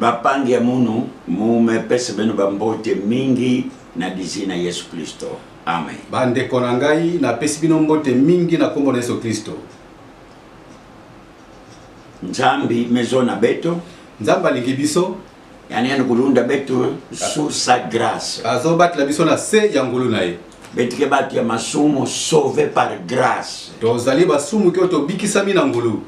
Ba pangi ya munu mume pesa bino ba mbote mingi na lizi na yesu klisto amen. Ba ndeko na ngai na pesi bino mbote mingi na kombo na yesu klisto. Nzambi mezo na beto. Nzambi alingi biso. Yani yani kulunda beto su sa grace. Azo batela biso na se ya ngulu na ye. Betike batu ya masumu sauve par grace. Tozali basumuki oyo tobikisami na ngulu.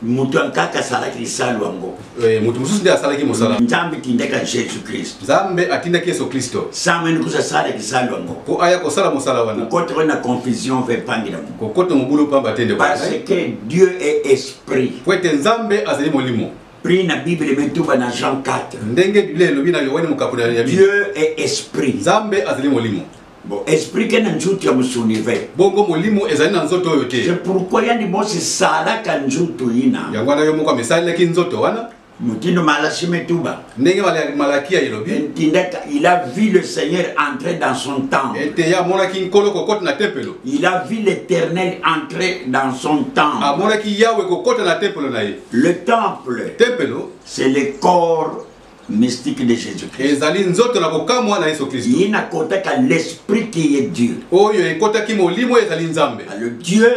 moto ya nkaka asalaki lisalu yango eh, moto mosusu nde asalaki mosala nzambe tindaka jésus kristo nzambe atindaki yesu kristo samani kusa asala lisalu yango mpo aya kosala mosala wana kokotaka na confusion mpe epangi na kokota mobulu mpamba te ndeko parce que dieu est esprit mpo ete nzambe azali molimo prix na bible emetuba na jean 4 ndenge biblia elobi na yohane mokapo ya dieu est esprit nzambe azali molimo Bon, explique na nzutu ya musuni ve. Bongo molimo ezali na nzoto oyo te. C'est pourquoi yandi mosi salaka nzutu ina. Yango wana yo moko amesalelaki nzoto wana. Motindo malasi metuba. Ndenge malakia elobi. Entindaka, il a vu le Seigneur entrer dans son temple. Ete ya amonaki nkolo kokota na tempelo. Il a vu l'Éternel entrer dans son temple. Amonaki Yahweh kokota na tempelo na ye. Le temple. Tempelo. C'est le corps mystique de Jésus-Christ. Ezali nzoto na kokamwa na Yesu Kristo. Ye nakotaka l'esprit qui est Dieu. Oyo ekotaki molimo ezali Nzambe. Le Dieu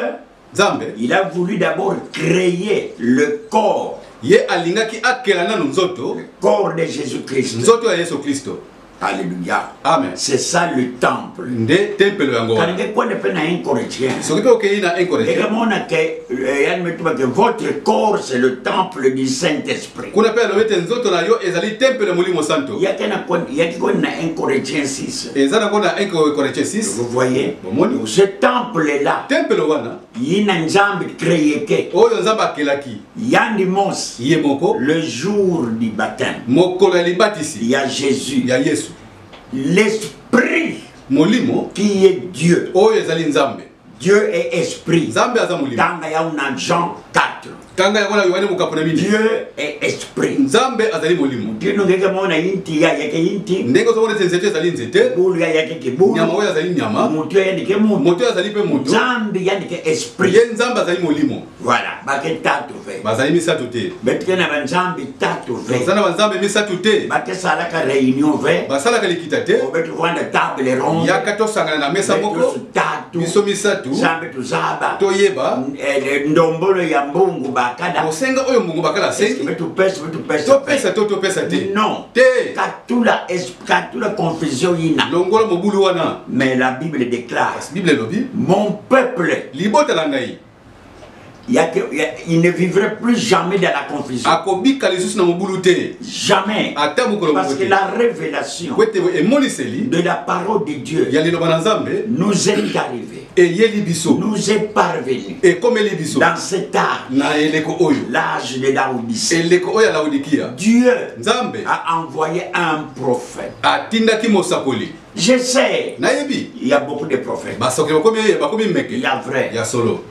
Nzambe. Il a voulu d'abord créer le corps. Ye alingaki akela nanu nzoto. Le corps de Jésus-Christ. Nzoto ya Yesu Kristo. Alléluia. Amen. C'est ça le temple. Nde temple yango. Car nde quoi ne peut na incorrigien. Ce qui peut qu'il na incorrigien. Et comment on a que euh, yann me tuba que votre corps c'est le temple du Saint-Esprit. Kuna pe lobete nzoto na yo ezali temple ya Molimo Santo. Ya kana kon ya ki kon na incorrigien 6. Ezana kon na incorrigien 6. Vous voyez? Bomoni ce temple là. Temple wana. yina nzambe create oyo nzambe akelaki yandi mos ye moko le jour du baptême mokolo ya libatisi ya jésus ya yesu l'esprit molimo qui est dieu oyo ezali nzambe dieu est esprit nzambe aza molimo tanga yau na jean 4 kanga yango na yohane mokapo na mini dieu est esprit nzambe azali molimo ntino ngeke mona inti ya yeke inti ndenge ozomona ete nzete ezali nzete bulu ya yeke ke bulu nyama oyo azali nyama moto ya ndike moto moto oyo azali mpe moto nzambe ya ndike esprit ye nzambe azali molimo voilà bake tatu ve bazali misato te betike na banzambe tatu ve baza na banzambe misato te bake salaka réunion ve basalaka likita te obeti vanda table ronde yaka tosangana na mesa moko biso misato tuzaba toyeba eh, ndombolo ya mbungu bakala osenga oyo mbungu bakala asengi topesa topesa to topesa te non te katula katula confusion yina longola mobulu wana mais la bible déclare bible elobi mon peuple libota la ngai il ne vivrait plus jamais dans la confusion. Akobika lisusu na mobulu te. Jamais. Ata mokolo Parce que la révélation de la parole de Dieu ya liloba na Nzambe nous est arrivée. eyeli biso nous est parvenu ekomeli biso dans cet art na eleko oyo l'âge de laodicée eleko oyo ya laodikia dieu nzambe a envoyé un prophète atindaki mosakoli je sais nayebi il y a beaucoup de prophètes basoki bakomi bakomi meke ya vrai ya solo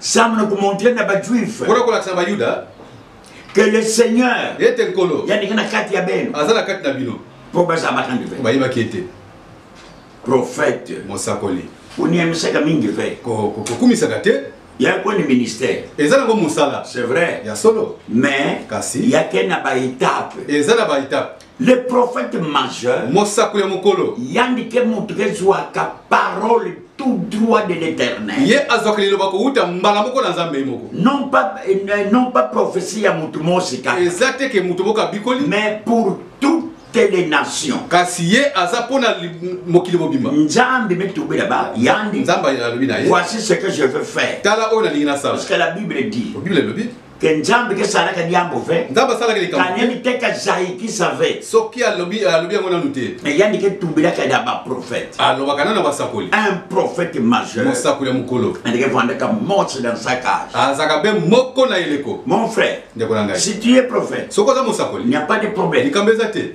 Sam na kumontre na ba juif. Kuna kuna kisa ba yuda. Que le Seigneur. Yete nkolo. Yani kana kati ya beno. Azala kati na bino. Po baza bakandi pe. Ba yibaki ete. Prophète. Mosakoli. Oniamisaka mingi pe. Ko ko kumisaka te. ya koni ministère eza nango mosala c'est vrai ya solo mais kasi ya ke na baetape eza na baetape Le prophète majeur. Mosakoli ya mokolo. Yandi ke moto kezwaka parole tout droit de l'éternel. Ye azwaka liloba kowuta mbala moko na Nzambe moko. Non pas euh, non pas prophétie ya moto mosika. Eza te ke moto moko abikoli. Mais pour toutes les nations. Kasi ye aza pona mokili mobimba. Nzambe mitubela ba yandi. Nzambe alobi na ye. Voici ce que je veux faire. Tala oyo nalingi nasala. Parce que la Bible dit. Bible elobi. ke nzambe ke salaka diambo ve nzambe asalaka likambo kanyemi te ka zaiki save soki alobi alobi yango nanu te eyandi ke tumbelaka ya baprofete alobaka nanu na basakoli un prophète majeur mosakoli ya mokolo andike vandaka mose dans sa cage azalaka be moko na eleko mon frère ndeko na ngai si tu es prophète soki oza mosakoli il n'y a pas de problème likambo eza te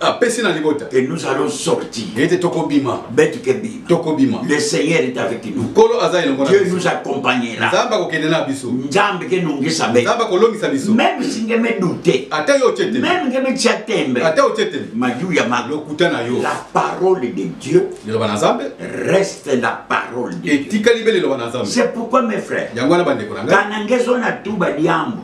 apesi na libota que nous allons sortir ete tokobima beti ke bima tokobima le seigneur est avec nous nkolo aza elongo dieu nous accompagnera nzambe akokende na biso nzambe ke nongisa be nzambe akolongisa biso même si nge me douter ata yo otye te même nge me tya tembe ata otye te mayu ya ma lokuta na yo la parole de dieu liloba na nzambe reste la parole de etikali be liloba na nzambe c'est pourquoi mes frères yango wana bandeko na ngai kana ngezo na tuba diambo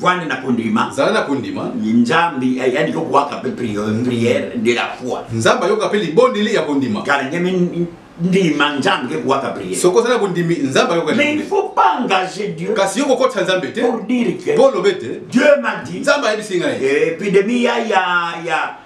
vanda na kondima zala na kondima nzambe ayandi kokuaka mpe priere de la foi nzambe ayoka mpe libondeli ya kondima kala ndeme ndima nzambe ke kuaka priere soki ozali na kondimi nzambe ayoka mais il faut pas engager dieu kasi yo kokotisa nzambe te pour dire que mpo olobe te dieu m'a dit nzambe ayebisi ngai epidemie ya ya ya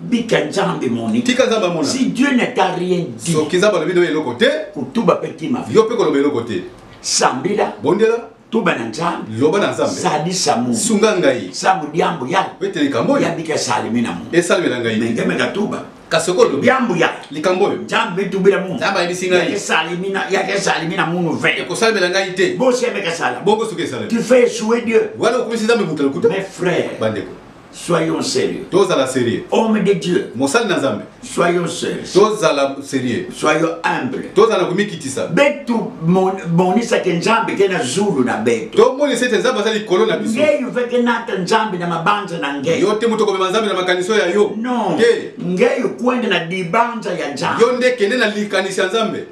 bika nzambe moni tika nzambe amona si dieu ne t'a rien dit soki nzambe alobi nayo eloko te kotuba mpe tima yo mpe koloba eloko te sambela bondela tuba na nzambe loba na nzambe salisa mu sunga ngai sambo diambo ya mpe te likambo oyo yabika salimi na mu esalemela ngai mengemeka tuba kasi okoyo lobi yambo ya likambo oyo nzambe etubela mu nzambe ayebisi ngai yakesalimi na yakesalimi na munu ve ekosalemela ngai te bosemeka sala bongo soki esalemi tu fais souhait dieu wala okomisi nzambe moto lokuta mes frères bandeko Soyons sérieux. Tozala sérieux. Homme de Dieu. Mosali na Nzambe. Soyons sérieux. Tozala sérieux. Soyons humble. Tozala komikitisa. Betu monisa ke Nzambe ke na zulu na betu. To monisa ke Nzambe azali likolo na biso. Ngeyo veke nata Nzambe na mabanza na ngeyo. Yo te moto komema Nzambe na makaniso ya yo. Non. Te. Ngeyo kwende na dibanza ya Nzambe. Yo nde kende na likanisi ya Nzambe.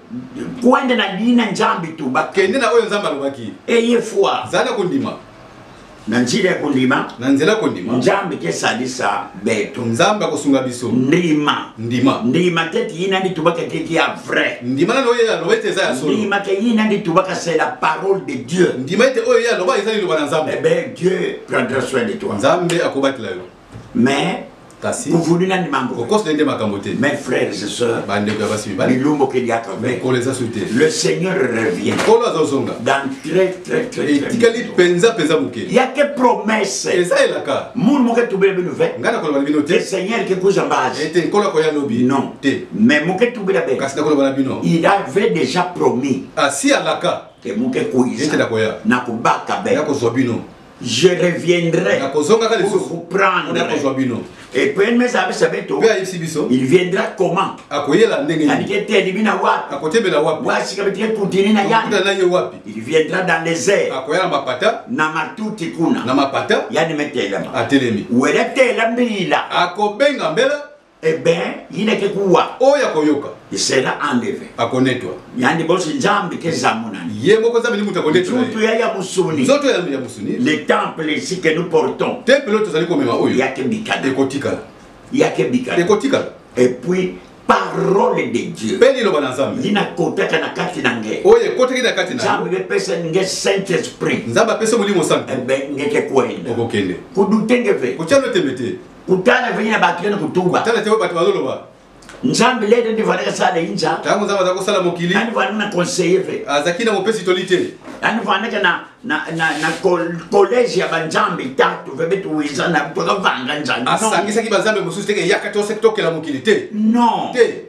Kwende na dina Nzambe tuba. Kende na oyo Nzambe alobaki. Eye foi. Zala kondima. na nzela ya kondima na nzela kondima nzambe te salisa beto nzambe akosunga biso ndima ndima ndima te ti yina ndi tubaka te ti ya vrai ndima nani oyo aloba ete eza ya solo ndima te yina ndi tubaka c'est la parole de dieu ndima ete oyo ye aloba eza liloba na nzambe eh ben dieu prendra soin de toi nzambe akobatela yo mais kasi kuvulu nani mambo kokosna nde makambo te mes frères et sœurs bandeko ya basi mibali bilumbu keliaka mikolo eza su te le seigneur revient nkolo azozonga dans très très très etikali mpenza mpenza moke ya ke promesse eza elaka munu moke tubela bino ve ngai nakoloba na bino te seigneur ke kuza mbasi ete nkolo akoya lobi non te mais moke tubela be kasi nakoloba na bino il avait déjà promis asi alaka te moke kuiza ete nakoya nakobaka be nakozwa bino je reviendrai nakozongaka lisusu vous prendre na kozwa bino et puis mais ça ça beto pe ayisi biso il viendra comment akoyela ndenge nini alike te libi na wapi akotebela wapi wasi ka bitike kutini na yani na ye wapi il viendra dans les airs akoyela mapata na matuti kuna na mapata yani metelema atelemi wele tela mbila akobenga mbela Eh ben, yine ke kuwa. Oyo akoyoka. Isela andeve. Akonetwa. Yandi bosi nzambi ke zamunani. Ye moko nzambi ni mutu akonetwa. Nzoto ya ya musuni. Nzoto ya ya musuni. Le temple ici que nous portons. Temple oyo tozali komema oyo. Ya ke bikala. Ekotikala. Ya ke bikala. Ekotikala. Et puis parole de dieu mpe liloba na nzambe ye nakotaka na kati na nge oyo ekotaki na kati na nzambe bepesa nge saint esprit nzambe apesa molimo santu ebe eh ngeke kwenda okokende kudutenge ve kotyano tembe te kutana vini na bato yene kutuba tala te bato bazoloba nzambe lede nde vandaka sala inza ntango nzambe aza kosala mokili ani vandaka na conseiller ve azalaki na mopesi toli te ani vandaka na na na na collège ya banzambe tatu ve betu weza na toka vanga nzambe asangisaki banzambe mosusu te ke yaka to sek tokela mokili te non te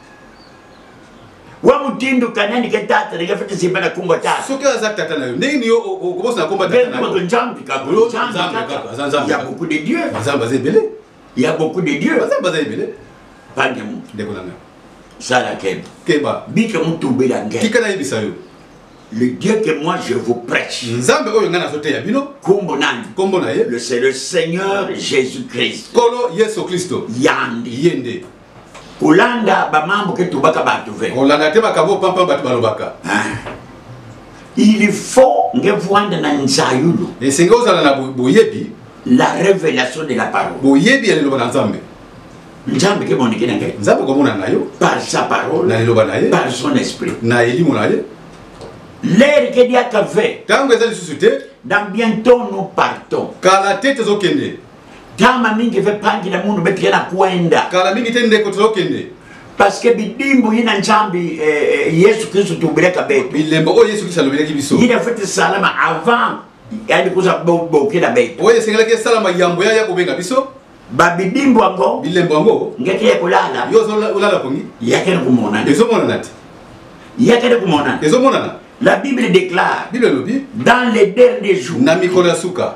wa mutindo kanani ke tata ndenge fete simba na kumba tata soki aza tata na yo ndenge ni yo okobosana komba tata na yo nzambe kaka nzambe kaka aza nzambe ya beaucoup de dieu nzambe aza ebele ya beaucoup de dieu nzambe aza ebele bande mu ndeko na ngai sala keba keba bike mutubela ngai tika nayebisa yo le Dieu que moi je vous prêche. C'est le Seigneur Jésus-Christ. Kolo Yesu Christo. Yandi. Yende. kolanda bamambo ke tobaka bato ve kolanda te makambo pampa bato balobaka ah. il faut nge vwanda na nzayulu esenge ozala na boyebi la révélation de la parole boyebi ya liloba na nzambe nzambe ke monike na ngai nzambe komona na yo par sa parole na liloba na ye par son esprit na elimo na ye lere ke diaka ve ntango eza lisusu te dans bientôt nous partons kala te tozokende Kama mingi ve pangi na mundu beti yana kuenda. Kala mingi te ndeko tulokende. Parce que bidimbu yina njambi eh, eh, Yesu Kristo tubireka betu. Bilembo o Yesu Kristo alobireki biso. Yina fete salama avant yani kuza bokila betu. Oye sengeleke salama yambo ya ya kubenga biso. babidimbu yango bilembo yango ngeke ye kolala yo olala pongi yakende komonana ezomonana te yakende komonana ezomonana la bible déclare bible elobi dans les derniers jours na mikolo ya suka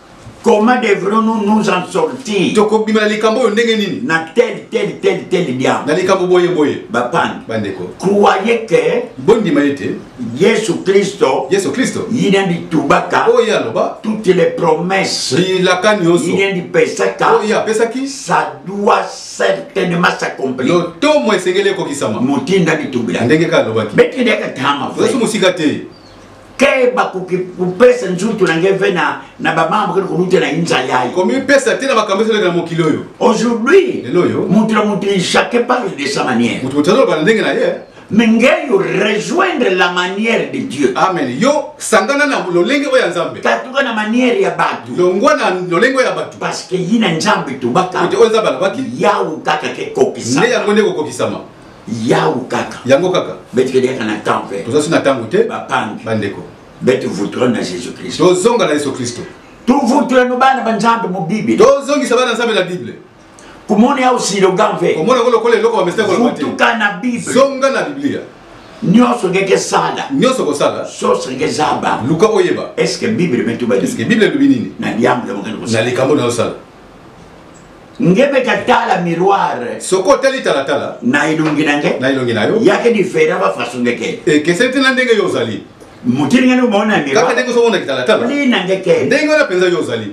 Comment devrons-nous nous en sortir Tokobima likambo oyo ndenge nini Na tel tel tel tel diable. Na likambo boye boye. Ba pan. Ba ndeko. Croyez que bondima ete Yesu Kristo. Yesu Kristo. Yina ndi tubaka. Oyo ye aloba. Toutes les promesses. Bilaka nyonso. Yina ndi pesaka. Oyo ye apesaki. Ça doit certainement s'accomplir. Lotomo esengeli ekokisama. Motinda ndi tubila. Ndenge kaka alobaki. Beti ndeka tama. Yesu mosika te. ke bakoki kopesa nzoto na ngai mpe na na bamama bakende koluta na inza yaye komipesa te na makambo ezalaki na mokili oyo aujourd'hui lelo oyo moto na moto ejake parle de sa manière moto moto azoloba na ndenge na ye mais ngai yo rejoindre la manière de dieu amen yo sangana na lolenge oyo ya nzambe katuka na manière ya bato longwa na lolenge oyo ya bato parce que ye na nzambe tobaka oyo nzambe alobaki yawe kaka ke kokisa nde yango nde kokokisama yawu kaka yango kaka betikende kaka na temps mpe tozasi na ntango te bapangi bandeko beti vutura na jésus kristo tozonga na yesu kristo tuvutura no bana ba nzambe mu bible tozongisa bana nzambe na bible kumona ya usiloga mpe komona yango lokola eloko bamesita koloba te vutuka na bible zonga na biblia nyonso ngeke sala nyonso kosala soso ngeke zaba luka oyeba eske bible metuba eske bible elobi nini na liambo na likambo na osala ngebe katala miroir soko otali talatala na elongi na nge na elongi na yo yake difera ba façon ndeke ekeseni te na ndenge yo ozali motili ngani omona miroir kaka ndenge ozomona kitalatala li na nge ke ndenge wana mpenza yo ozali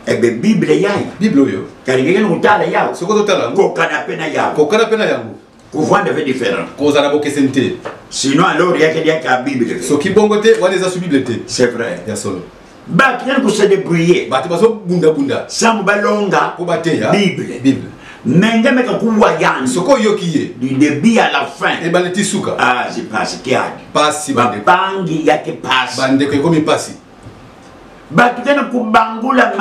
ebe eh bible yayo bible oyo kalingeke nokotala yayo soko totala kokana mpe na yango kokana mpe na yango kovanda ve différent kozala bokeseni te sinon alors yake liaka ya bible te soki bongo te wana eza su bible te c'est vrai ya solo bato yani kose débrouiller bato bazobundabunda sango balonga mpo bateya bible bible menge meka kuwa yani soki oyoki ye du début à la fin ebale ti suka ah, pasi kiadi pasi bapangi yake pasi bandeko ekomi pasi bato tena kobangola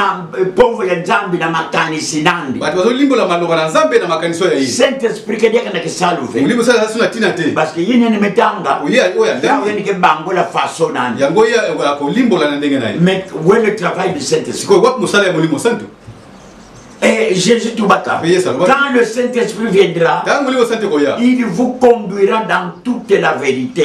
mpovo eh, ya nzambe na makanisi nandi bato bazolimbola maloba na nzambe na makanisi oyo ya ye saint esprit kadiaka na kisalu ve molimo sala asu na ntina te parceke ye nene metanga oyeoyoyandeke bangola faso nani yango ye akolimbola na ndenge na ye mais we le travail du saint esprit sikoyo wapi mosala ya molimo santu Et Jésus Toubaka, quand le Saint-Esprit viendra, il vous conduira dans toute la vérité.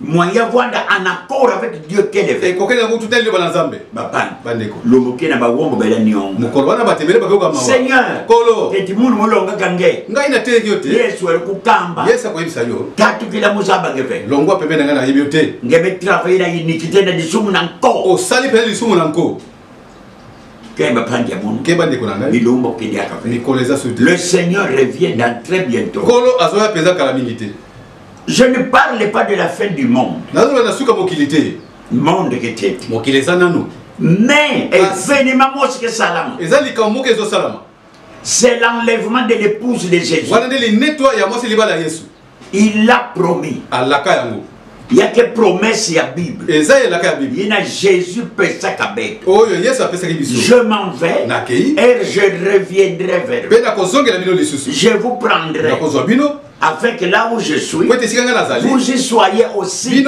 Mwanya Rwanda en accord avec Dieu qu'elle est. Ekokende yango tutali liloba na Nzambe. Bapani. Bandeko. Lomoke na bawombo bela niongo. Mokolo wana batemele bakoyoka mawa. Seigneur. Kolo. Eti mulu molongaka nge. Ngai nateyeki yo te. Yesu ali kokamba. Yesu akoyebisa yo. Katukila mozamba nge mpe. Longwa pembe na ngai nayebi yo te. Nge me travaille na iniquité na lisumu na nko. Osali mpenza lisumu na nko. Kemba pandi ya munu. Kemba ndeko na ngai. Bilombo kende akafe. Mikolo eza sote. Le Seigneur revient dans très bientôt. Kolo azoya mpenza kala mingi te. Je ne parle pas de la fin du monde. nazoloba na suka mokili te Monde ke te. mokili eza nanu Mais Kasi- événement mosi ke salama. eza likambo moko ezosalama C'est l'enlèvement de l'épouse de Jésus. wana nde linetwa ya mwasi libala ya yesu Il l'a promis. alaka yango Il y a que promesse ya Bible. eza elaka ya biblia Il y a Jésus pesa kabek. oyo yesu apesaki biso Je m'en vais Nakei. et je reviendrai vers vous. mpe nakozongela bino lisusu Je vous prendrai nakozwa bino Afin que là où je suis, vous y soyez aussi.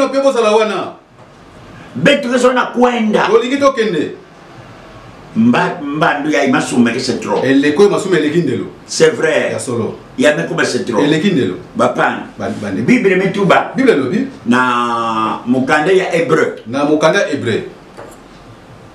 Betresona kwenda. Olingi tokende. Mba mbandu ya imasuma ke c'est trop. Eleko imasuma eleki ndelo. C'est vrai. Ya solo. Ya mekuba c'est trop. Eleki ndelo. Bapan. Bande. Bible metuba. Bible lobi. Na mukanda ya hébreu. Na mukanda hébreu.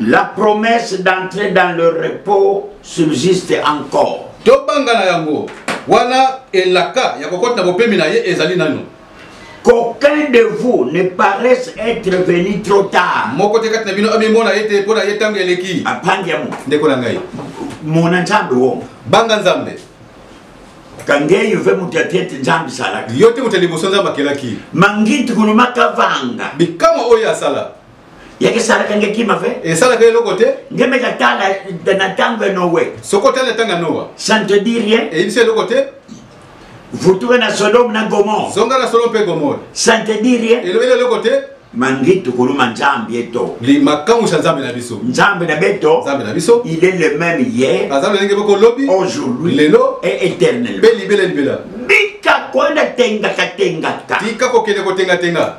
La promesse d'entrer dans le repos subsiste encore. Tobanga na yango wana elaka ya kokota na bopemi na ye ezali nano. Qu'aucun de vous ne paraisse être venu trop tard. Moko te kati na bino amimona ye te mpo na ye ntango eleki. Apangi yango. Ndeko na ngai. Mona Nzambe wongo. Banga Nzambe. kangeyi ve moto ya tete nzambe salaki yo te moto ya liboso nzambe akelaki mangiti kulumaka vanga bikamwa oyo asala yeke esalaka nge kima ve esalaka eloko te nge mpe natala na ntango ya nowe soki otali na ntango ya nowa ça ne te dit rien eyebisi eloko te vutuka na sodome na gomore zonga na sodome mpe gomore ça ne te dit rien elobeli eloko te mangitu kuluma nzambe eto limakamwisa nzambe na biso nzambe na beto nzambe na biso il est le même hier aza lolenge moko lobi aujourd'hui lelo et éternel mpe libela libela bika kwenda tengaka tengaka tika kokende kotengatenga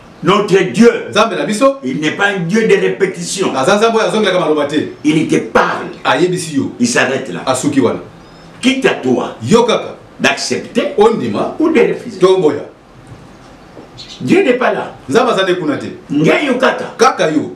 Notre Dieu, Nzambe na biso, il n'est pas un Dieu de répétition. Aza Nzambe oyo azongelaka maloba te. Il te parle. Ayebisi yo. Il s'arrête là. Asuki wana. Quitte à toi. Yo kaka. D'accepter. Ondima. Ou de refuser. Tomboya. Dieu n'est pas là. Nzambe aza nde kuna te. Ngai yo kaka. Kaka yo.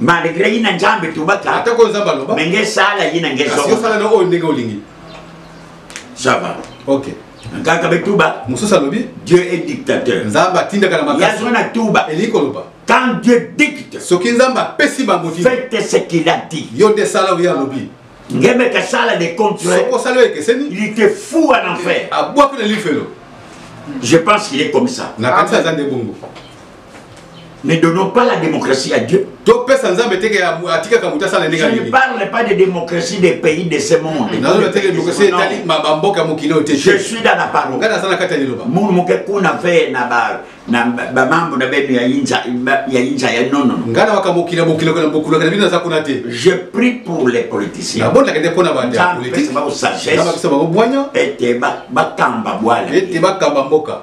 malgré yina nzambe tobata ata ko nzambe aloba mais nge sala yina nge zoba kasi sala na oyo ndenge olingi ça va ok kaka be tuba mosusu alobi dieu est dictateur nzambe atindaka na makasi yazwa na tuba elingi koloba quand dieu dicte soki nzambe apesi bango faites ce qu'il a dit yo nde sala oyo alobi ngeme ka sala de contraire soko sala oyo ekeseni il était fou en enfer abwaki na lifelo je pense qu'il est comme ça nakanisa aza nde bongo ne donnons pas la démocratie à Dieu. Je ne parle pas de démocratie des pays de ce monde. Je suis dans la parole. Moun muke kuna fe na ba na ba mambo na benu ya inja ya inja ya non non. Ngana wakamukila mukila kuna mukula kana bina zakuna te. Je prie pour les politiciens. Bon nakende pona ba ndia politique. Ba sagesse. Ba kisaba ko bwanya. Ete ba ba kamba bwala. Ete ba kamba mboka.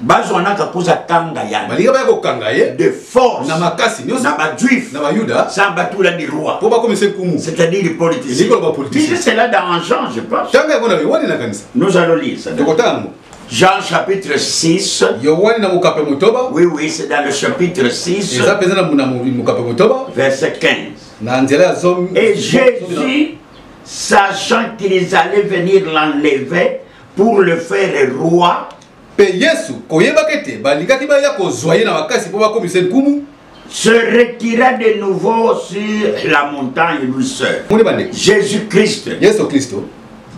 bazwanaka kuza kanga ya balinga baya kokanga ye de force na makasi nyonso na bajuif na bayuda sans batula di roi mpo bakomisa nkumu c'est-à-dire politicien elingi koloba politicien cela dans jean je pense ntango yango na yohane nakanisa nous allons lire ça tokotanga yango Jean chapitre 6. Yohani na mukape motoba. Oui oui, c'est dans le chapitre 6. Eza peza na muna mukape motoba. Verset 15. Na nzela ya zomi. Et Jésus sachant qu'ils allaient venir l'enlever pour le faire roi Mpe Yesu, koyebaka ete balingaki baya kozwa ye na makasi mpo bakomisa ye nkumu, se retira de nouveau sur la montagne lui seul. Moni bande. Jésus-Christ. Yesu Kristo.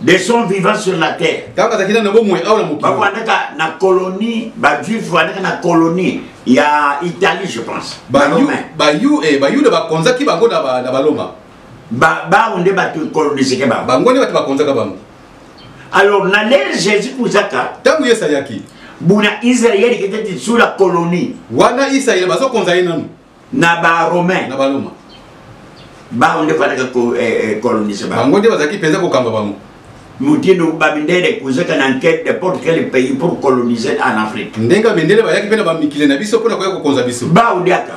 De son vivant sur la terre. Tango azalaki nano bomoi awa na mokili. Bafandaka na colonie, bajuif bafandaka na colonie ya Italie je pense. Bayu, bayu, eh, bayuda bakonzaki bango na baloma. Ba, bango nde bato coloniseke bango. Bango nde bato bakonzaka bango. alors na lere jésus kuzaka ntango yesu ayaki buna israeli keteti sur la colonie wana israeli bazokonza ye nanu na baromain na baloma bango nde fandaka kolonise eh, eh, bango nde bazalaki mpenza kokamba bango motindo bamindele kozeka na nkete de porte quel pays pour coloniser en afrique ndenge bamindele bayaki mpe na bamikili na biso mpo na koya kokonza biso baudiaka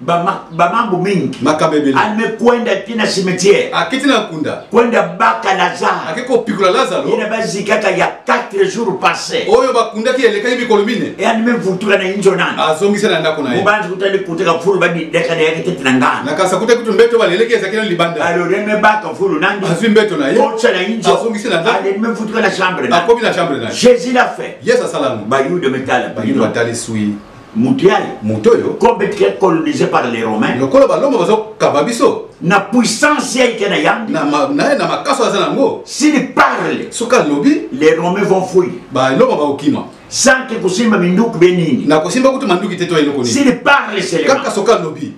bamambo mingi makambo ebele amekwenda ti na cimetière akiti na nkunda kwenda baka lazare ake kopikula lazaro ina bazikaka ya 4 jours passé oyo bakundaki elekaki mikolo mine eyani mevutula na inzo nani azongisa na ndako na ye mobanzi kutani kutaka fulu badideka na yake tete na ngana nakasa kutaki tu mbeto baleleki ezaki na libanda aloreme baka fulu nani azwi mbeto na ye otsa na inzo azongisa na ndako alemi mevutula na chambre akomi na chambre na ye jésus l'a fait yesu asala yango bayuda metala bayuda batali sui moto ya moto oyo complètement colonisé par les romains lokola baloma bazokaba biso na puissance ya ike na yambi na makaso aza nango s'il parle soki alobi les romains vont fouille baloma bakokima sanke kosimba minduki be nini na kosimba kutu manduki te to eloko nini s'il parle kaka soki alobi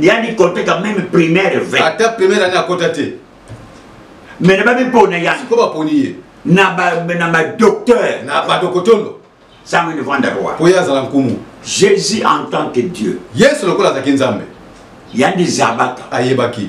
yani koteka meme primaire v ata primaire ani akota te mene bamipona ya siko baponi ye na badocteur na badokotono sango elivanda roi mpo ye azala nkumu jésus en tant que dieu yesu lokola azalaki nzambe yandi zabaka ayebaki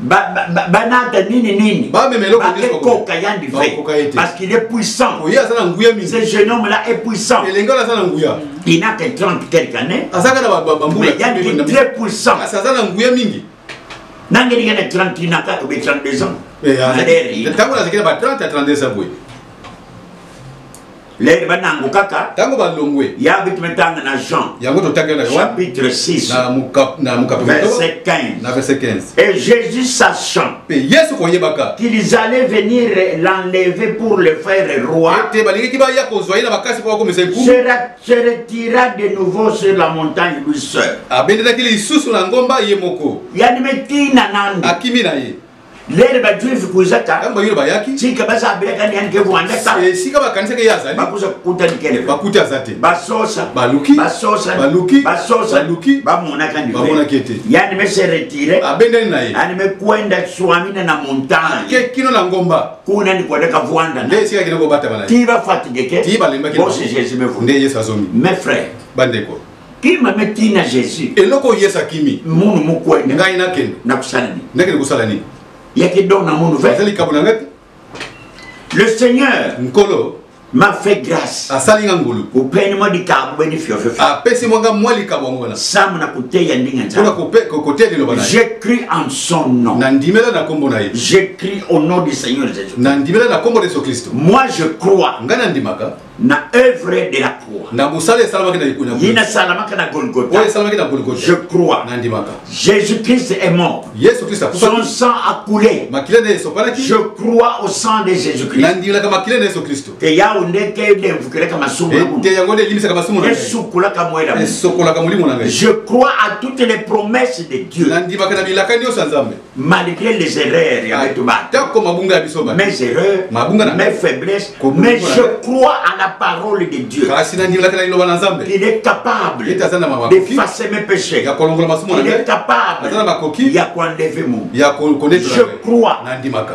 banata nini nini bakekoka yandi vrai parce qu'il est puissant ce jeune homme là est puissant il n'a que 30 quelques années mais yandi très puissant nangeli yana 30 na kaka be 32 ans ntango nazalaki na ba 30 ya 32 ans boye lere banango kaka ntango balongwe ya bitu metanga na jean yango totangi na chapitre 6 na mokapi na mokapi verset 15 na verset 15 et jésus sachant mpe yesu koyebaka qu'ils allaient venir l'enlever pour le faire roi ete balingaki baya kozwa ye na makasi mpo bakomisa ekulu se retira de nouveau sur la montagne lui seul abendelaki lisusu na ngomba ye moko yani metina nando akimi na ye lere ba juive kuza ta tango bayoyo bayaki tika baza abelaka ni anike rwanda ta esika bakanisaka ye azali bakuza kukuta likele bakuti aza te basosa baluki basosa baluki basosa baluki bamonaka ndi bamonaki ete yani me se retire abendani na ye ani me kwenda swamina na montagne ke kino na ngomba kuna ni kwenda kavwanda nde esika kende kobatama na ye ti bafatigue ke ti balembaki bosi jesu me vunde yesu azomi mes frères bandeko kima me tina jésus eloko oyo yesu akimi munu mokwende ngai nakende nakosala nini nakende kosala nini yaki don na munu eza likambo na ngai te le seigneur nkolo m'a fait grâce asali nga ngolu openi mwa likambo beni fiofefe apesi mwa nga mwa likambo yango wana samu na koteya ndenge nzambe koteya liloba na j'ai cru en son nom na ndimela na kombo na ye j'ai cru au nom du seigneur jésus na ndimela na kombo na yesu kristo moi je crois nga na ndimaka na œuvre de la croix na mosala esalamaki na likolo ye nasalamaka na golgota oyo esalamaki na golgota je crois nandimaka jésus christ est mort yesu christ son sang a coulé makila na ye esopanaki je crois au sang de jésus christ nandimelaka makila na yesu kristo te yawo nde te edevukelaka masumu na te yango nde elimisaka masumu na esukolaka moye na esokolaka molimo na ngai je crois à toutes les promesses de dieu nandimaka na bilaka nyonso ya nzambe malgré les erreurs ya betu batako mabunga ya biso mes erreurs mabunga na mes faiblesses mais je crois à la parole de Dieu kasi na ndimela kana liloba na Nzambe il est capable il est azana makoki d'effacer mes péchés ya kolongola masumu na il est capable azana makoki ya ko enlever mon ya ko connaître je crois na ndimaka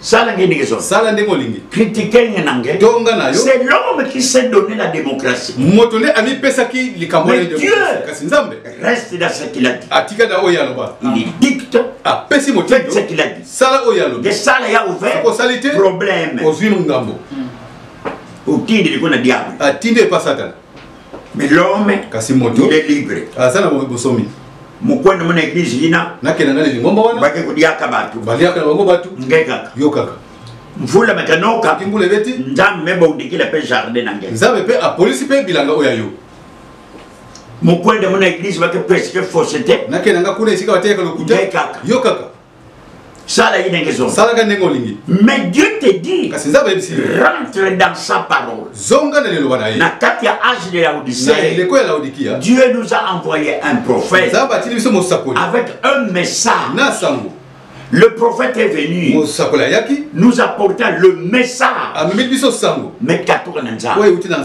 sala nge ndenge ezongi sala ndenge olingi kritike nge na nge to nga na yo c'est l'homme qui s'est donné la démocratie moto nde amipesaki likambo na dieu kasi nzambe reste dans ce qu'il a dit atika na oyo aloba il dicte apesi motindo ce qu'il a dit sala oyo alobi nde sala ya ouvert osali te problème ozwi ngambo otindi liko na diable atindi epa satana mais l'homme kasi moto il est libre aza na bosomi mokwenda mona eglise yina nakenda na lingomba wana bake kodiaka bato baliaka na bango bato ngai kaka yo kaka mvula matanoka kimbula ebeti nzambe mpe baudikila mpe jardin na ngai nzambe mpe apolisi mpe bilanga oyo ya yo mokwenda mona eglise bake presque fausse te nakenda nga kuna esika bateyaka lokuta yo kaka sala ye ndenge zonga salaka ndenge olingi mais dieu te dit kasi nzambe ayebisi rentre dans sa parole zonga na liloba na ye na kati ya age de laodicee na eleko ya laodikia dieu nous a envoyé un prophète nzambe atindi biso mosakoli avec un message na sango Le prophète est venu. Nous apportant le message. Mais 4 ans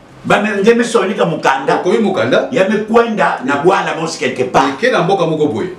bamenge misonika mokanda okomi mokanda ya mikwenda na bwana mosi quelque part eke na mboka moko boye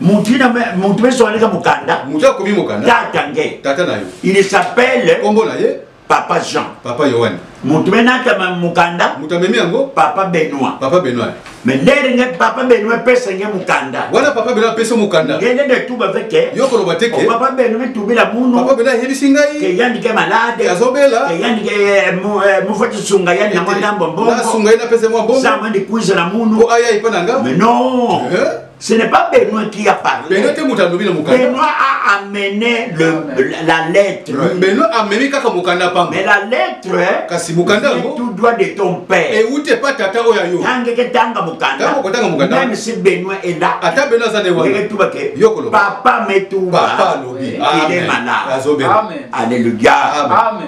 mutu misonika mokanda mutu akomi mokanda tata nge tata na yo il s'appelle kombo na ye papa jean papa yohane mutu menatama mokanda mutu amemi yango papa benoit papa benoit Mais lere nge papa benu epesa nge mukanda. Wana papa benu apesa mukanda. Nge nende tuba veke. Yoko loba teke. Oh, papa benu mitubila munu. Papa benu ahebisi ngai. Ke yandi ke malade. Ke azobela. Ke yandi ke eh, eh, mufati sunga yandi na mwanda mbombo. Na sunga yandi apesa mwa mbombo. Sama ndi kuiza na munu. Ko aya ipa na nga. Mais non. Eh? Ce n'est pas Benoît qui a parlé. Benoît te moto alobi na mokanda. Benoît a amené le, la, la lettre. Benoît amemi kaka mokanda pamba. Mais la lettre kasi mokanda yango tout droit de ton père. Et où t'es pas tata oyo yo. Tanga ke tanga mokanda. Tanga ko tanga mokanda. Même si Benoît est là. Ata Benoît za ne wana. Yeke tuba ke. Yoko lo. Papa me tuba. Papa lobi. Il est malade. Amen. Alléluia. Amen.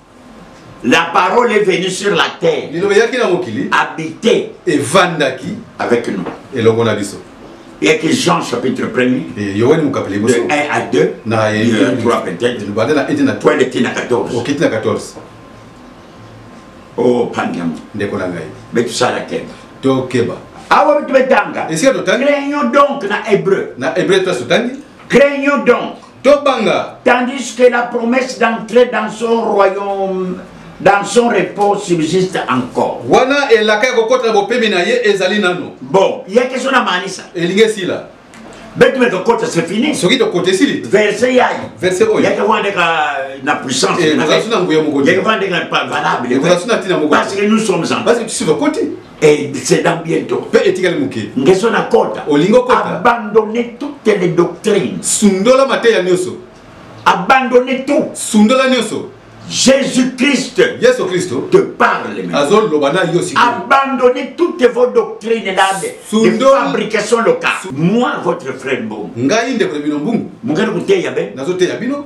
La parole est venue sur la terre. Liloba eyaki na mokili. Habité. Evandaki. Avec nous. Elongo na biso. eyaki jean chapitre 1er yoani mokapeli liboso 1 à 2 na 3 peut-être lobanda na ete na 3 eleki na 14 okiti na 14 o pandiamo ndeko na ngai mpe tosala keba tokeba awa bitu betanga esika totangi craignon donc na hébreu na hébreu place totangi craignon donc tobanga tandis que la promesse d'entrer dans son royaume dans son repos subsiste encore wana elaka ya kokota na bopemi na ye ezali nano bon ya question na manisa elingi esila betu me tokota c'est fini soki tokota esili verset yayi verset oyo yake wana ndeka na puissance eh, ezalaki na nguya moko yake wana ndeka valable ezalaki na ntina moko parce que nous sommes en parce que tu suis kokoti Et c'est dans bientôt. Pe etikali muke. Ngeso na kota. Olingo kota. Abandonner toutes les doctrines. Sundola mateya nyoso. Abandonner tout. Sundola nyoso. Jésus-Christ Yesu Kristo te parle azoloba na yo sikoyo abandonnez toutes vos doctrines là de fabrication locale moi votre frère mbongo ngai ndeko na bino mbongo mokali koteya be nazoteya bino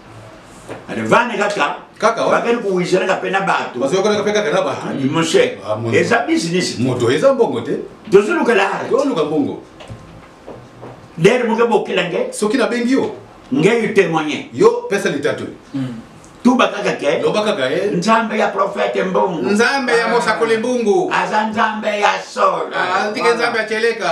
vane kaka kaka bakeli kowisanaka mpe na bato bazoyokanaka mpe kaka na bato ah, moshe ah, eza business moto eza mbongo te tozoluka lahara toluka mbongo dere moke bokela nge soki nabengi yo ngeyi témoigné yo pesa litatoli hmm. tuba kaka ke loba kaka ye eh. nzambe ya profete mbungu nzambe ya ah. mosakoli mbungu aza nzambe ya solo andike nzambe ya keleka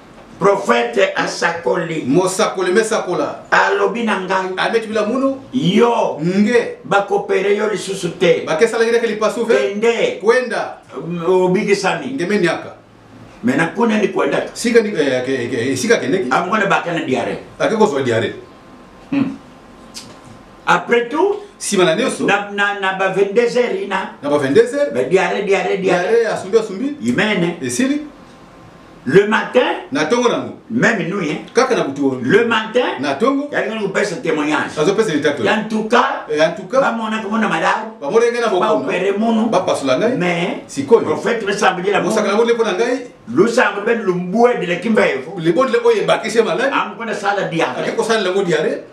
Prophète asakoli. Mosakoli mesakola. Alobi na ngai. Abeti bila munu. Yo. Nge. Bakopere yo lisusu te. Bakesala gideke lipasu ve. Kende. Kwenda. Obikisami. Nge menyaka. Mais na kuna ni kwenda. Sika ni eh, ke, ke, sika kende. Amwana bakana diare. Ake kozwa diare. Hmm. Après tout. Sima na nioso. Na na na ba 22 heures ina. Na ba 22 heures. Ba diare diare diare. Diare asumbi asumbi. Imene. Esili. Le matin, na tongo nango. Même nous hein. Kaka na butu. Le matin, na tongo. Ya ngani kupesa témoignage. Azo pesa litato. Ya ntuka. Eh, ya ntuka. Ba mona ko mona malamu. Ba mona ngana boko. Ba opere mono. Ba pasula ngai. Mais sikoyo. Prophète be sambeli la. Mosaka ngo lepo na ngai. Lo sambo ben lo mbue de la kimba evo. Le bon le oye bakise malade. Am ko na sala diarrhée. Ko sala ngo diarrhée.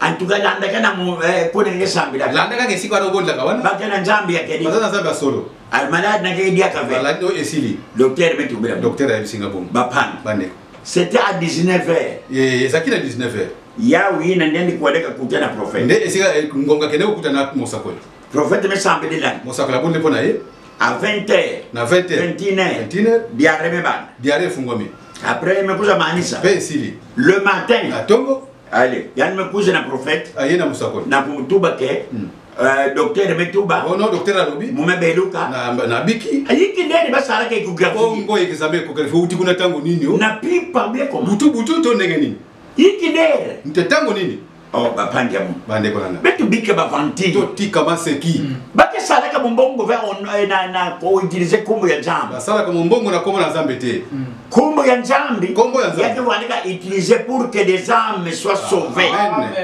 antuka landaka na eh, kona nge sambila landaka ke siko ado bondaka wana baka na nzambe ya kedi baza na nzambe ya solo al malade na kedi ya kafe malade o esili docteur metu bela docteur ya bisinga bom ba pan bande c'était à 19h eh ezaki na 19h ya wi na ndende kwa deka kuta na prophète nde esika eh, ngonga kende kuta na mosako prophète me sambe de lan mosako la bonde pona ye à 20h na 20h 21h 21h diarrhée me bande diarrhée fungwami après mekuza manisa pe esili le matin na tongo ale yani mekuza na prophète aye na mosakoli na komutuba ke hmm. euh, docteur metuba oh non docteur alobi mume beluka na, na biki ayiki ndeni basalaka echographie bongo examen echographie outi kuna ntango nini o oh? na pipa beko butu butu to ndenge nini yiki ndere nte ntango nini Oh, bapandi yango bandeko nanga betu bike bavanti totika maseki mm. bakesalaka mombongo ve eh, na koutilize nkombo ya nzambe basalaka mombongo na nkombo na nzambe te mm. nkombo ya nzambe nkombo ya nzambe wandika utilise pour que des âmes soient sauvées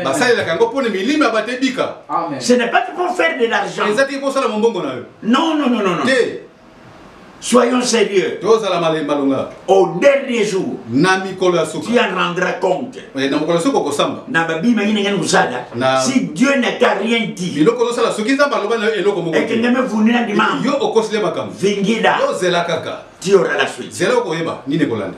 basalelaka yango mpo na milimo ya bato ebika ce n'est pas pour faire de l'argent ezaki kosala mombongo na yo non non non non te Soyons sérieux. Tozala malemba longa. Au dernier jour. Na mikolo ya suka. Tu en rendras compte. Eh, na mokolo suka okosamba. Na babima yini ngani kusala. Na... Si Dieu n'a t'a rien dit. Biloko ozosala soki nzambe aloba na yo eloko moko. Ekende me vuni na ndima. Yo okosile makambo. Vingida. Yo zela kaka. Tu auras la suite. Zela okoyeba nini ekolanda.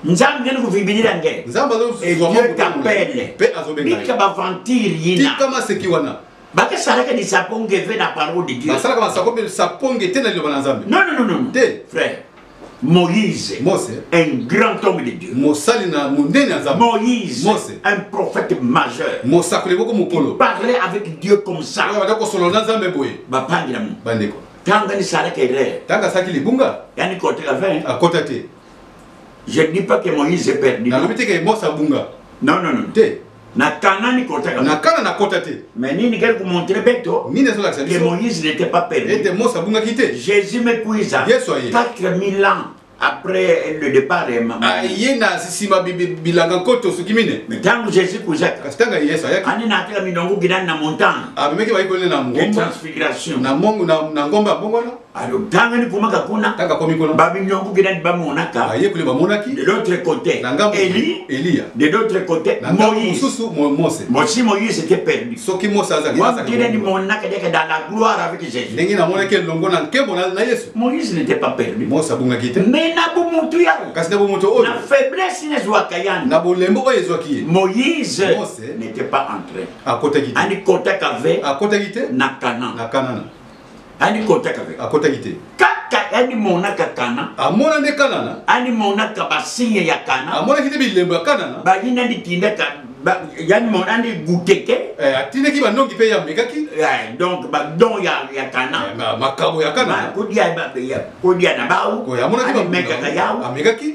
nzambe ngeni kovibilila nge nzambe azozwa mwa mpe azobengabika bavantire yina tika maseki wana bakasalaka lisaponge ve na parole de dieu basalaka masako mpe lisaponge te na liloba na nzambe non non non te frère Moïse, Mose, un grand homme de Dieu. Mosali na monene ya Nzambe. Moïse, Mose, un prophète majeur. Mosakoli moko mokolo. Parler avec Dieu comme ça. Oyo banda kosolo na Nzambe boye. Bapangi na mo. Bandeko. Tanga ni sala kere. Tanga saki libunga. Yani kote la fin. Akota te. Je ne dis pas que Moïse est perdu. Nalobi te que Mose abunga. Non non non. Te. Na Cana ni kota kaka. Na Cana na kota te. Mais nini kali kumontre beto? Nini ezo lakisa biso? Que Moïse n'était pas perdu. Ete Mose abungaki te. Jésus mekuiza. Yesu aye. 4000 ans après le départ de maman. Aye na sisima bilanga nkoto soki mine. Mais tango Jésus kuzaka. Kasi tango Yesu ayaki. Ani na atela minongo gidani na montagne. Abimeki bayi kolele na ngomba. Transfiguration. Na mongo na ngomba bongo na. Alors, tanga ni kumaka kuna. Kaka komi kuna. Babi nyongu gina ni bamonaka. Aye kule bamonaki. De l'autre côté. Nanga Eli. Elia. De l'autre côté. Nanga mususu Mose. Mosi Moïse était perdu. Soki Mose azaki. Wa gina ni monaka deke dans la gloire avec Jésus. Ndenge na mona ke longo na nkembo na na Yesu. Moïse n'était pas perdu. Mose abunga kite. Mais na bu mutu ya. Kasi na bu mutu oyo. Na faiblesse ne zwa kayana. Na bolembo oyo ezwa kiye. Moïse. Mose n'était pas entré. Akota kite. Ani kota kave. Akota kite. Na Canaan. Na Canaan. ani kotaka pe akotaki te kaka ani monaka kana amona nde kanana ani monaka basinya ya kana amonaki nde bilembo ya kanana bayina ndi kinda ka yani mona ndi guteke eh, atindaki banongi mpe yamekaki eh, donc badon ya, ya kana eh, makabo ya kana kodia na bawu amekaka yawu amekaki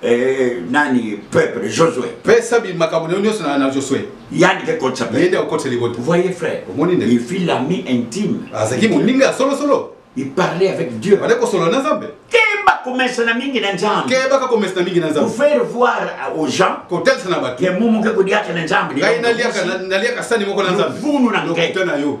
Eh, nani peuple Josué pesa bi makambo na yo nyonso na Josué yani ke kotsa pe yende akotsa libota voyez frère omoni nde il fut l'ami intime azaki moninga solo solo il parlait avec Dieu bale kosolola na Nzambe keba komesana mingi na Nzambe keba ka komesana mingi na Nzambe pour faire voir aux gens kotelisa na bato ke mumu ke kodiaka na Nzambe ngai naliaka naliaka sani moko na Nzambe vunu na ngai na yo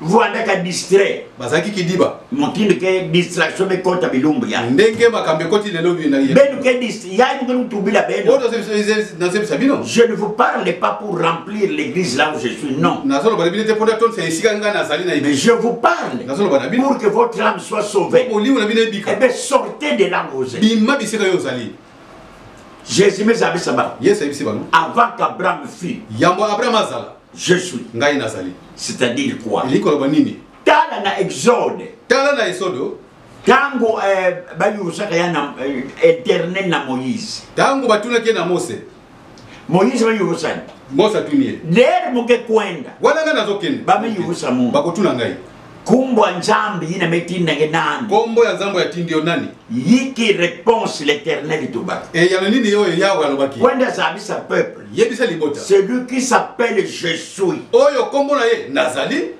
rwanda ka distrait bazalaki kidiba motindo ke distraction bekota bilumbu ya ndenge makambo ekoti lelo benu ke yayimukutubila benonazebisa bino je ne vous parle pas pour remplir l'église là où je suis non nazoloba na bino te mpona tonisa esika ngai nazali na mais je vous parle nazoloba na bino pour que votre âme soit sauvée molimo na bino ebika ebe eh sortez de là où vous êtes bima bisika yo ozali jésus mezabisa bango yesu ayebisi bango avant qu'abraham fut yambo abraham azala Je suis. Ngai nazali. C'est-à-dire quoi? Elingi koloba nini? Tala na Exode. Tala na Exode. Oh. Tango eh, bayusaka ya na eh, éternel na Moïse. Tango batunaki na Mose. Moïse bayusani. Mose atuni ye. Der moke kwenda. Wana ngai nazokende. Bamiyusa mungu. Bakotuna ngai. Kumbo ya Nzambe yina metinda nge nani? Kombo ya Nzambe yatindi yo nani? Yiki réponse l'éternel itobaki. Et yano nini yo Yahweh alobaki? Wenda zabisa peuple. Yebisa libota. Celui qui s'appelle je suis. Oyo kombo na ye nazali.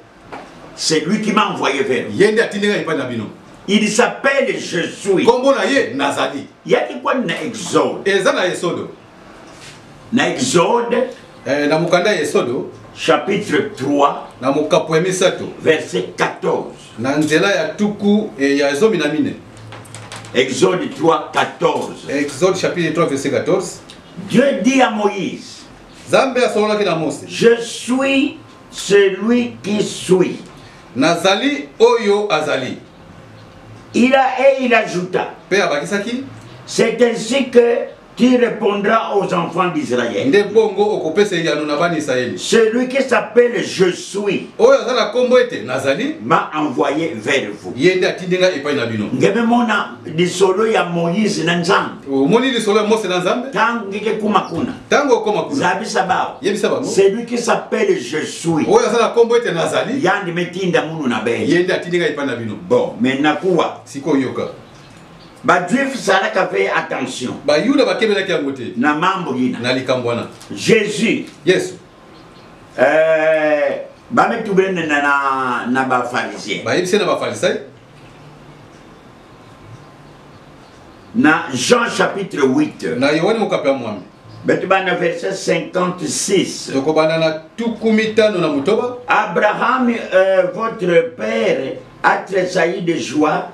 C'est lui qui m'a envoyé vers vous. Yende atindi ngai epai na bino. Il s'appelle je suis. Kombo na ye nazali. Yaki kwani na Exode. Eza na Exode. na exode eh, na mokanda ya esodo chapitre 3 na mokapo ya misato verset 14 na nzela ya tuku eh, ya zomi na mine exode 3 14 exode chapitre 3 verset 14 dieu dit à moïse zambe asololaki na mose je suis celui qui suis nazali oyo azali il a et il ajouta mpe abakisaki c'est ainsi que qui répondra aux enfants d'Israël. Celui qui s'appelle Je suis m'a envoyé vers vous. ndenge mona lisolo ya moïse na nzambe omoni lisolo ya mose na nzambe ntango ngeke ekuma kuna ntango okoma kuna zabisa bao yebisa bango celui qui s'appelle je suis oyo aza na nkombo ete nazali yandi metinda munu na bele ye nde atindi ngai epai na bino bon me nakuwa sikoyoka bajuif zalaka mpe attention bayuda bakebelaki yango te na mambo yina na likambo wana jésus yesu eh, bamitubene na, na, na bafarisien bayebisi na bafarisai na jean chapitre 8 na yohane mokapi ya mwambi beti bana verset 56 tokobanda na tuku mitano na motoba abraham euh, votre père a tressailli de joie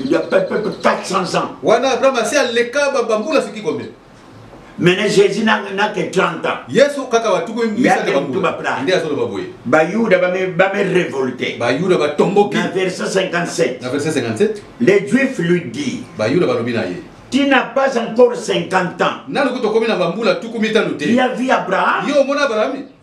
Il y a peut-être 400 ans. Wana Abraham asi aleka ba bambula siki combien? Maintenant Jésus n'a n'a que 30 ans. Yesu kaka watu ko mbisa ka bambula. Ndiye azo loba boye. Ba Yuda ba me ba me révolter. Ba Yuda ba tomboki. Na verset 57. Na verset 57. Les Juifs lui dit. Ba Yuda ba lobi na ye. Tu n'as pas encore 50 ans. Nanu kutokomi na bambula tuku mitano te. Il y a vu Abraham. Yo mona Abraham.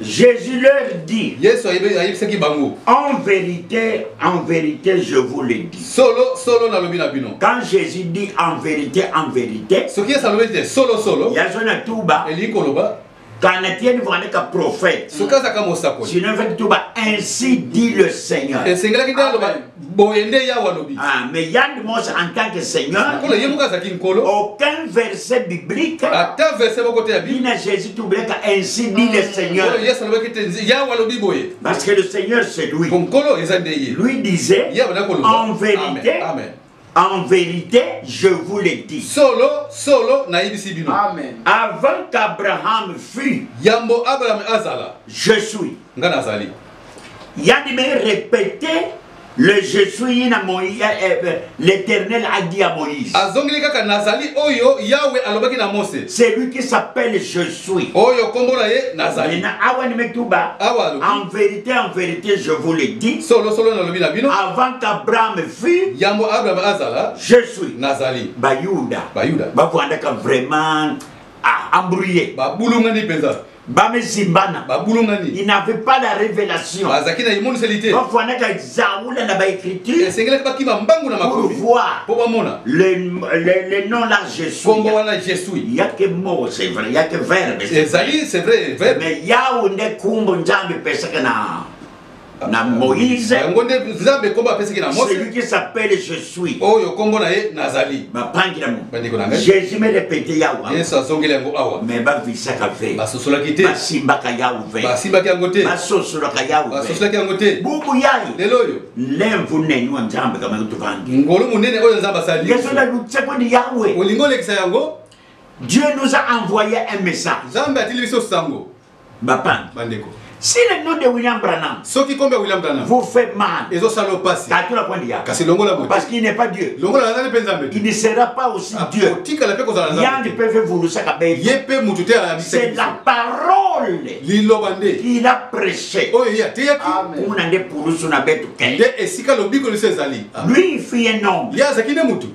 Jésus leur dit. Yesu ayebisaki bango. En vérité, en vérité, je vous le dis. Solo, solo na lobi na bino. Quand Jésus dit en vérité, en vérité. Ce qui est ça te solo, solo. Yazo na tuba. Eli koloba. Kana tieni vane ka prophète. Ce qui est ça ka mosakoli. Sinon fait tuba ainsi dit le Seigneur. Et c'est là qui dit boye nde yawe alobi ah, mais yande mose en tant que seigneur nkolo ye moko azalaki nkolo aucun verset biblique ata verset moko te ya bibina jésus tobleka ainsi dit le seigneur oyo yesu alobaki te yawe alobi boye parce que le seigneur c'est lui mpo nkolo eza nde ye lui disait yawe nakoloba en vérité amen, amen. En verite, je vous le dis. Solo, solo, nayebisi bino. Amen. Avant qu'Abraham fût. Yambo Abraham azala. Je suis. Nga nazali. Yadi me répéter le je suis na Moïse, eh, eh, eh, l'Éternel a dit à Moïse. Azongeli kaka nazali oyo Yahweh alobaki na Mose. C'est lui qui s'appelle je suis. Oyo kombo na ye nazali. Na awa ni metuba. Awa. En vérité, en vérité, je vous le dis. Solo solo na lobi na bino. Avant qu'Abraham suis yambo abraham azala je suis nazali bayuda bayuda bavandaka vraiment ah, embrouillé babulungani mpenza bamezimbana babulungani il n'avait pas la révélation bazalaki na emoniseli te bafwanaka zaula na baécriture esengelaki bakima mbangu na makomi mpo bamona le nom la jésus kombo wana jésus yake moko c'est vrai yake verbe ezali c'est vrai verbe mais yawe nde kumbo nzambe epesaka na na moïse yango nde nzambe nkombo apesaki na mose celui qui s'appelle je suis oyo nkombo na ye nazali bapangi na bandeko na ngai jésus me répète yawa yesu azongeli yango awa mais bavisaka ve basosolaki te basimbaka yawu ve basimbaki yango te basosolaka yawu basosolaki yango te bubu yayi lelo oyo lemvu neni wa nzambe kamaki tovangi ngolu monene oyo nzambe asali yesu na lutseko ni yawe olingi olekisa yango dieu nous a envoyé un message nzambe atili biso sango Bapan. Bandeko. Si le nom de William Branham. Soki kombe William Branham. Vous fait mal. Ezo salo pasi. Tatu la kwandi ya. Kasi longola moto. Parce qu'il n'est pas Dieu. Longola la nani penza mbeto. Il ne sera pas aussi ah, Dieu. Tika la pe ko zala. Yandi pe fe vulu saka be. Ye pe mutu te a bisa. C'est la parole. Liloba nde. Il a prêché. Oyo oh, ya te ya ki. Kuna nde pulusu na betu ke. Nde esika lobiko lisezali. Lui fit un homme. Ya zakine mutu.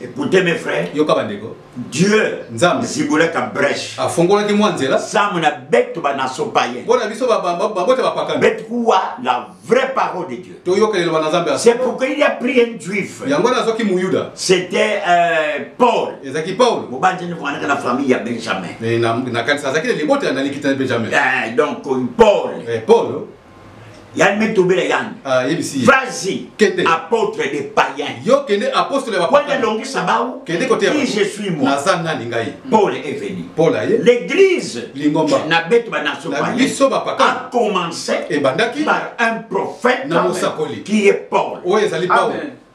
Écoutez mes frères. Yoka bandeko. Dieu Nzambe zibulaka brèche. Afongolaki mwa nzela. Zamu na betu ba naso paye. Bona biso ba ba ba bote ba pakana. Betu kuwa la vraie parole de Dieu. To yoka le bana Nzambe. C'est pourquoi il a pris un juif. Yango na zoki muyuda. C'était euh, Paul. Ezaki Paul. Mobanje ni mwana na famille ya Benjamin. Mais na na kanisa zaki le bote na likita Benjamin. Eh donc Paul. Eh Paul. yalime tobela yani ah, vas-y apôtre des païens yo kende apôtre ya bapaya kende longisa bawu kende kote ya je suis moi naza nani ngai Paul est venu Paul aye l'église lingomba na beto ba nation na biso ba paka a commencé ebandaki par un prophète na mosakoli qui est Paul oyo ezali Paul Amen.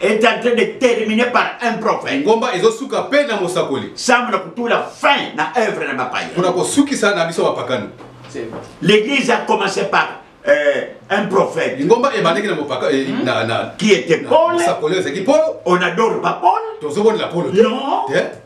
est en train de terminer par un prophète. Ngomba ezosuka pe na mosakoli. Sam na kutula fin na œuvre na bapaya. Kuna kosukisa na biso bapakano. L'église a commencé par euh, un prophète. Ngomba ebandaki na mopaka eh, hmm? na na qui était Paul. Mosakoli ezaki Paul. On adore pas Paul. Tozobonela Paul. Non. Eh?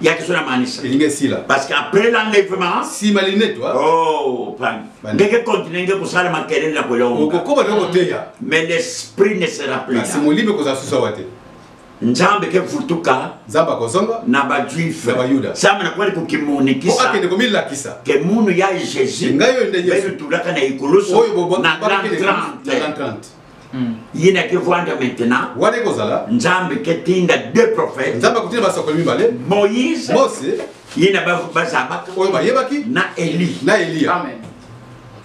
yaki so namanisa elingi esila parce que après l'enlèvement sima linete wa oh pan ndenge continue nge kosala makelele na kolonga okokoba nde koteya mais l'esprit ne sera plus kasi molimo ekozala susu awa te nzambe ke futuka nzambe akozonga na bajuife na bayuda sama nakwali kokimonikisa akende komilakisa ke munu ya jésus ngai oyo nde yesu betulaka na ekulusu na 30 ye na ke vanda maintenant wana ekozala nzambe ke tinda deux prophètes nzambe akotinda basakoli mibale moïse mose ye na bazabaka oyo bayebaki na eli na eliya amen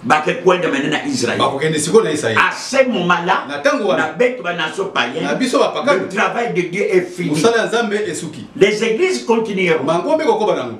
bakekwenda mene na israel bakokende sikoyo na israel à ce moment là na ntango wana na betu banaso payen na biso bapakano le travail de dieu est fini mosala ya nzambe esuki les églises continueront bango mpe kokoba nango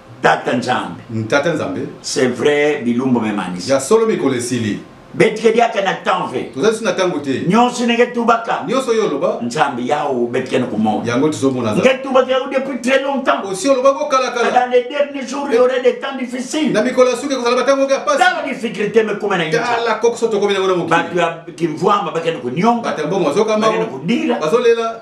tata nzambe mm, tata nzambe c'est vrai bilumbu memanisi ya solo mikolo esili betikediaka na temps ve tozalisi na ntango te nyonso ndenge tubaka nyonso yo oloba nzambe yawo betikene komona yango tozomona nge tubaka yango depuis très longtemps osi olobaki okalakala dans les derniers jours il y aurait des temps difficiles na mikolo ya suki ekozala batango oke apasi tala difficulté mekoma na yotala kokoso tokomi nango na mokili bato ya kimvuamba bakende konionga bato ya mbongo bazokambao bakende kodila bazolela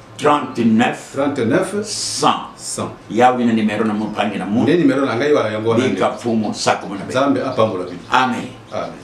39 39 100 100 ya wina numero na mopangi na mo nde numero na ngai wana yango wana bika fumo sako mona be zambe apambola bi amen amen